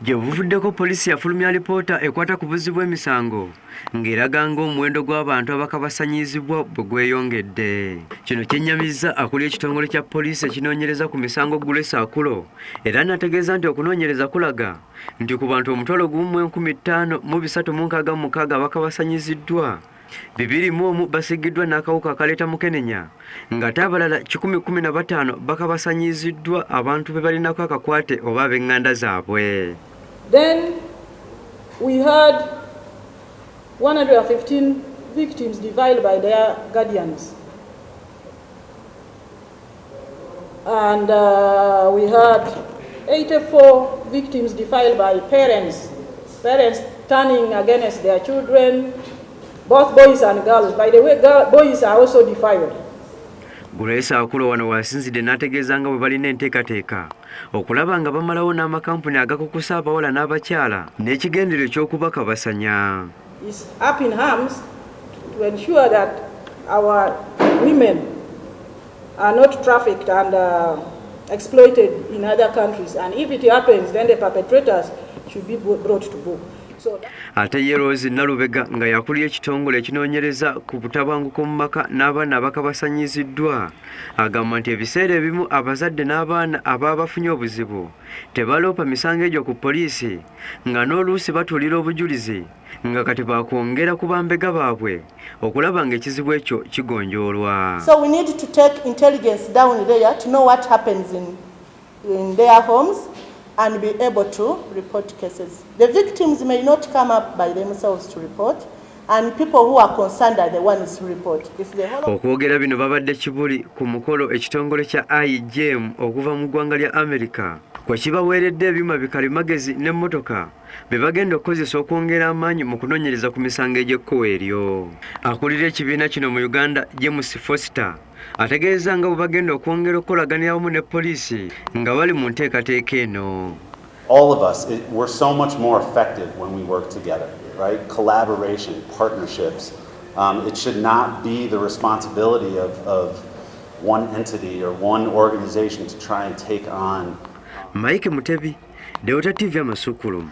Gye buvuddeko poliisi yafulumya alipoota ekwata ku buzzi bw'emisango ng'eraga ng'omuwendo gw'abantu abakabasanyiizibwa bwe gweyongedde. Kino kyennyamizza akulira ekitongole kya poliisi ekinoonyereza ku misango Grace Akulo era n'ategeeza nti okunoonyereza kulaga nti ku bantu omutwalo gumu mu enkumi ttaano mu bisatu mu nkaaga mu mukaaga abakabasanyiziddwa bibiri mu omu basigiddwa n'akawuka akaleeta mukenenya ngate abalala kikumi kumi na bataano bakabasanyiziddwa abantu be balinako akakwate oba ab'eŋŋanda zaabwe Then we had 115 victims deviled by their guardians. and uh, we had 84 victims defiled by parents, parents turning against their children, both boys and girls. By the way, girl, boys are also defiled. Grace Akulo wano wasinzidde n'ategeeza nga bwe balina enteekateeka okulaba nga bamalawo n'amakampuni agakukusa abawala n'abakyala n'ekigendero eky'okubakabasanya. is up in arms to ensure that our women are not trafficked and uh, exploited in other countries and if it happens then the perpetrators should be brought to book ate ye rose nalubega nga yakulira ekitongole ekinoonyereza ku butabanguko mu maka n'abaana abakabasanyiziddwa agamba nti ebiseera ebimu abazadde n'abaana ababa bafunye obuzibu tebaloopa misango egyo ku poliisi nga n'oluusi batuulira obujulizi nga kati bakwongera ku bambega baabwe okulaba nga ekizibu ekyo kigonjoolwa so we need to take intelligence down there to know what happens in, in their homes and be able to report cases the victims may not come up by themselves to report Okwogera bino babadde Kibuli ku mukolo ekitongole kya IGM okuva mu ggwanga lya America kwe kibaweeredde ebyuma bikalimagezi n'emmotoka bye bagenda okukozesa okwongera amaanyi mu kunoonyereza ku misango egy'ekkuwa eryo. Akulira ekibiina kino mu Uganda, James Foster ategeeza nga bwe bagenda okwongera okukolaganira wamu ne poliisi nga bali mu nteekateeka eno All of us, it, we're so much more effective when we work together, right? Collaboration, partnerships. Um, it should not be the responsibility of, of one entity or one organization to try and take on. Mike Mutebi, Delta TV Amasukulumu.